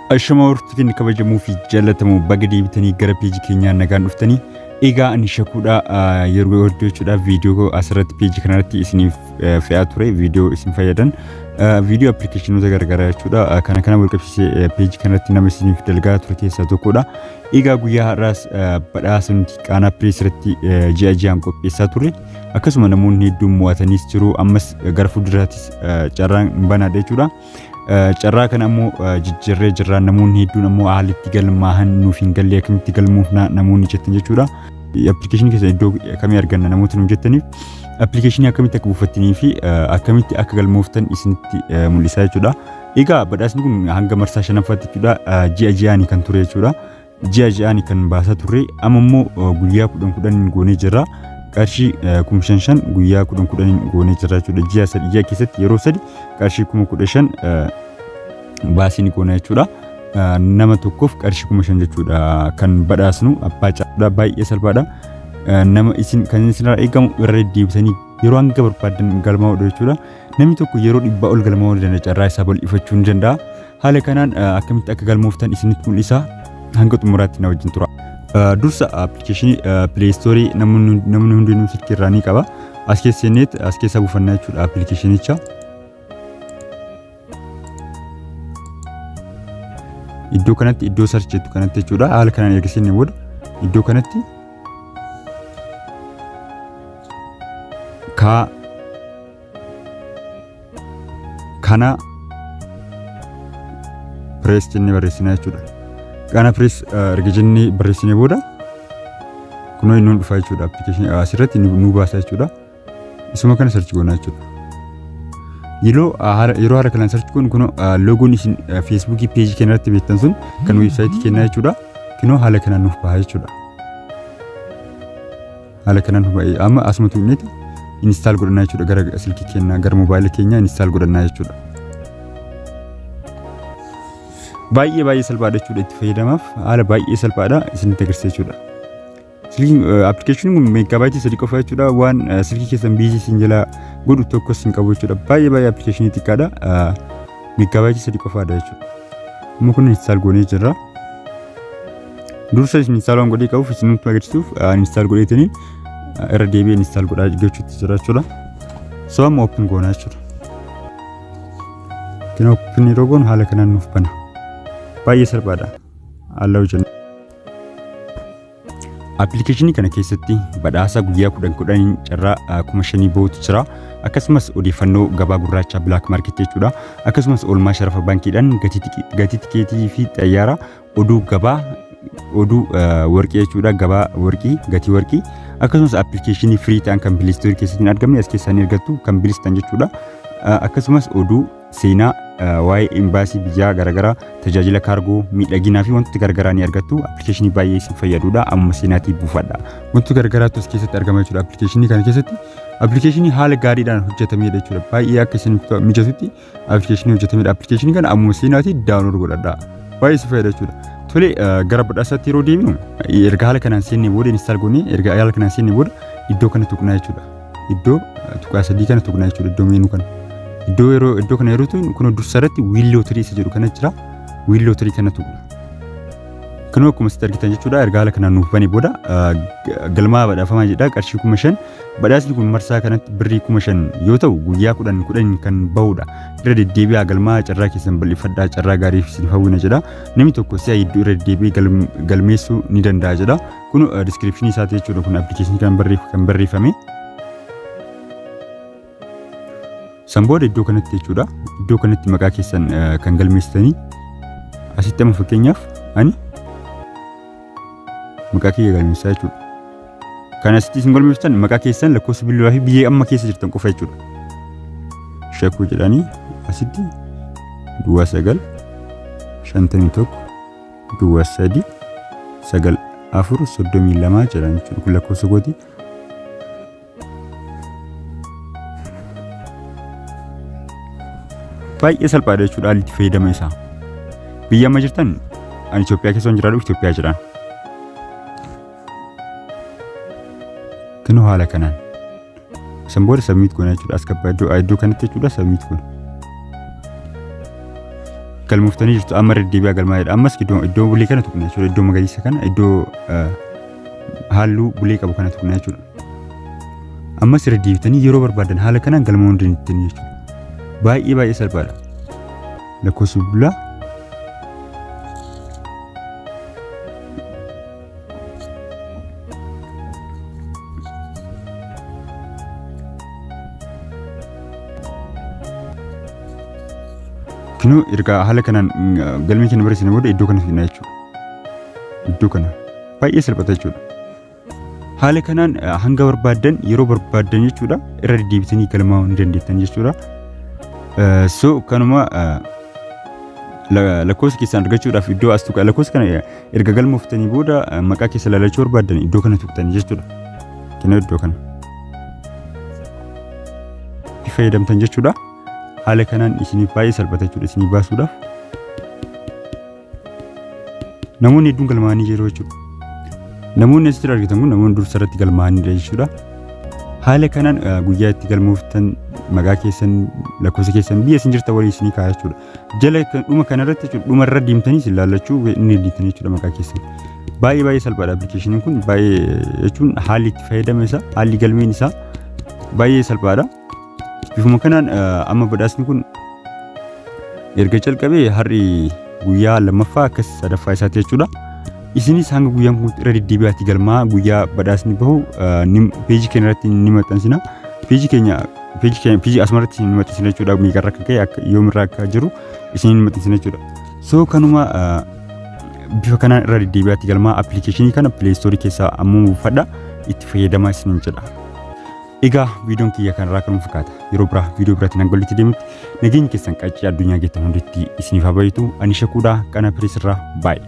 Ashama hortu keenya kabajamuu fi jaalatamu baga deebitanii gara peejii keenyaa nagaan dhuftanii egaa ani shakuudha yeroo hojjechuudhaaf viidiyoo asirratti peejii kanarratti isiniif fe'aa ture viidiyoo isin fayyadan viidiyoo appilikeeshinoota garagaraa jechuudha kana kana walqabsiisee peejii kanarratti nama isiniif dalgaa ture keessaa tokkodha egaa guyyaa har'aas badhaasa nuti qaanaa pirees irratti ji'a ji'aan qopheessaa ture akkasuma namoonni hedduun mo'atanis jiru ammas gara fuulduraattis carraan banaadha jechuudha. Carraa kana ammoo jijjiirree jirra namoonni hedduun ammoo haalli itti galmaahan nuuf hin galle akkamitti galmoofna namoonni jettan jechuudha. Appilikeeshinii keessa iddoo akkamii arganna namoota nuuf jettaniif appilikeeshinii akkamitti akka buufattanii fi akkamitti akka galmooftan isinitti mul'isaa jechuudha. Egaa badhaasni kun hanga marsaa shanaffaatti jechuudha ji'a ji'aani kan ture jechuudha. ji'a ji'aani kan baasaa turre amma immoo eh, guyyaa kudhan kudhaniin goonee jirra qarshii eh, kuma shan shan guyyaa kudhan kudhaniin goonee jirra jechuudha ji'a sadi ji'a keessatti yeroo sadi qarshii kuma kudha shan eh, baasii ni goona jechuudha. Eh, Nama tokkoof qarshii kuma shan jechuudha kan badhaasnu abbaa caalaa baay'ee salphaadha. Eh, Nama isin kan isinirraa eegamu irra deddeebisanii yeroo hanga barbaadan galmaa'uudha jechuudha. Namni tokko yeroo dhibbaa ol galmaa'uu ni danda'a carraa isaa bal'ifachuu ni danda'a. Haala kanaan akkamitti akka galmooftan isinitti mul'isa hanga xumuraatti na wajjin tura. Dursa appilikeeshinii pileestoorii namni hundinuu silkii irraa ni qaba. As keessa seenneet as keessa buufannaa jechuudha appilikeeshinicha. Iddoo kanatti iddoo sarchi jettu kanatti jechuudha haala kanaan erga seenne booda iddoo kanatti kaa kana pirees jennee barreessina jechuudha. Kana pirees erga jennee barreessinee booda kunoo inni dhufa jechuudha. Appilikeeshinii asirratti nu baasa jechuudha. Isuma kana sarchi goona jechuudha. Yeroo yeroo haala kanaan sarchi goonu kunoo loogoon isin feesbuukii peejii keenya irratti beektan sun kan weebsaayitii kennaa jechuudha. Kunoo haala kanaan nuuf baha jechuudha. haala kanaan huba'ee amma asuma tuqneeti install godhannaa jechuudha gara silkii keenyaa gara mobaayila keenyaa install godhannaa jechuudha. Baay'ee baay'ee salphaadha jechuudha itti fayyadamaaf haala baay'ee salphaadha isinitti agarsiisa jechuudha. Silkiin appilikeeshiniin kun meegaabaayitii sadii qofa jechuudha waan silkii keessan biizii isin jalaa godhu tokkos hin qabu jechuudha baay'ee baay'ee appilikeeshinii xiqqaadha meegaabaayitii sadii qofaadha jechuudha. Amma kun install goonee jirra. Dursa isin install waan godhee qabuuf isin nutti agarsiisuuf install godheetini irra deebi'ee install godhaa jechuutti jira jechuudha. So amma open goonaa jechuudha. Kan open yeroo goonu haala kanaan nuuf bana. Baay'ee salphaadha. Haalaa hojjennu. Appilikeeshinii kana keessatti badhaasa guyyaa kudhan kudhaniin carraa kuma shanii bahutu jira. Akkasumas odeeffannoo gabaa gurraachaa bilaak maarkeetii jechuudha. Akkasumas oolmaa sharafa baankiidhaan gatii tikeetii fi xayyaara oduu gabaa oduu warqii jechuudha gabaa warqii gatii warqii akkasumas appilikeeshinii firii ta'an kan pileestoorii keessatti hin argamne as keessaa ni argattu kan bilistan jechuudha akkasumas oduu seenaa waa'ee imbaasii biyyaa garaagaraa tajaajila kaargoo miidhaginaa fi wantoota garaagaraa ni argattu appilikeeshinii baay'ee isin fayyadudha amma seenaatii buufadha wantoota garaagaraatu as keessatti argama jechuudha appilikeeshinii kana keessatti appilikeeshinii haala gaariidhaan hojjetamedha jechuudha baay'ee akka isin mijatutti application hojjetame dha application kana ammoo seenaati download godhadha baay'ee si fayyada jechuudha tole gara badhaasatti yeroo deemnu erga haala kanaan seenne booda install goone erga haala kanaan seenne booda iddoo kana tuqnaa jechuudha iddoo tuqaa sadii kana tuqnaa jechuudha iddoo meenuu kana iddoo yeroo iddoo kana yeroo tuqnu kun dursa irratti wiil lootirii isa jedhu kana jira wiil lootirii kana tuqna Kanuma akkuma sitti argitan jechuudha erga haala kanaan nuuf bane booda galmaa badhaafamaa jedha qarshii kuma shan badhaasni kun marsaa kanatti birrii kuma shan yoo ta'u guyyaa kudhan kudhan kan bahudha irra deddeebi'aa galmaa carraa keessan bal'ifadhaa carraa gaarii isin hawwina jedha namni tokko si'a hedduu irra deddeebi'ee galmeessuu ni danda'a jedha kun diskiripshinii isaati jechuudha kun appilikeeshinii kan barreeffame. San booda iddoo kanatti jechuudha. Iddoo kanatti maqaa keessan eh, kan galmeessitanii asitti amma fakkeenyaaf ani maqaa kiyya galmeessaa jechuudha. Kan asitti isin galmeessitan maqaa keessan lakkoofsa bilbilaa fi biyya amma keessa jirtan qofa jechuudha. Shakuu jedhanii asitti duwwaa sagal shantamii tokko duwwaa sadii sagal afur soddomii lamaa jedhan jechuudha. Kun lakkoofsa kooti. baay'ee salphaadha jechuudha haalli itti fayyadama isaa biyya amma jirtan ani Itoophiyaa keessa hin jiraadhu Itoophiyaa jira kinu haala kanaan isan booda sabmiit goona jechuudha as gabbaa iddoo iddoo kanatti jechuudha sabmiit goona galmooftanii jirtu amma deddeebi'aa galmaa'edha ammas iddoo iddoo bulee kana tuqna jechuudha iddoo magariisa kana iddoo halluu bulee qabu kana tuqna jechuudha ammas irra deebitanii yeroo barbaadan haala kanaan galmaa'uu hin dandeettan jechuudha baay'ee baay'ee salphaadha lakkoofsa bilbilaa kinuu erga haala kanaan galmee keenya barreessine booda iddoo kana fidna jechuudha iddoo kana baay'ee salphata jechuudha Haala kanaan hanga barbaaddan yeroo barbaaddan jechuudha irra deddeebitanii galmaa'uu ni dandeettan jechuudha. So kanuma lakkoofsa keessan argachuudhaaf iddoo as tuqa lakkoofsa kana erga galmooftanii booda maqaa keessa lalachuu barbaaddan iddoo kana tuqtanii jechuudha. Kennaa iddoo kana. Itti fayyadamtan jechuudha. Haala kanaan isiniif baay'ee salphata jechuudha isinii baasuudhaaf. namoonni hedduun galmaa'anii jiru jechuudha. Namoonni asitti argitan kun namoonni dursa irratti galmaa'anidha jechuudha. Haala kanaan eh, guyyaa itti galmooftan maqaa keessan lakkoofsa keessan biyya isin jirtan walii isinii kaa'aa jechuudha. Jala kan- dhuma kanarratti jechuudha dhuma irra deemtanii isin laallachuu inni deemtanii jechuudha maqaa keessan. Baay'ee baay'ee salphaadha appilikeeshiniin kun baay'ee eh, jechuun haalli itti fayyadama isaa haalli galmeen isaa baay'ee salphaadha. Bifuma kanaan amma badhaasni kun erga calqabee har'i guyyaa lammaffaa akkas sadaffaa isaati jechuudha. Isinis hanga guyyaan kun irra deddeebi'aatti galmaa guyyaa badhaasni bahu peejii keenya irratti ni maxxansina. Peejii keenya peejii keenya peejii asumarratti ni maxxansina jechuudha. Meeqarra akka ka'e akka yoomirra akka jiru isin ni maxxansina jechuudha. So kanuma bifa kanaan irra deddeebi'aatti galmaa appilikeeshinii kana pileestoorii keessaa ammoo buufadha itti fayyadamaa isiniin jedha. Egaa viidiyoon kiyya kanarraa kanuma fakkaata. Yeroo biraa viidiyoo biraatti nan gollitti deemutti nageenyi keessan qaccee addunyaa geettan hunditti isiniif haa baay'atu. Ani shakuudhaa qana pireesirraa baay'ee.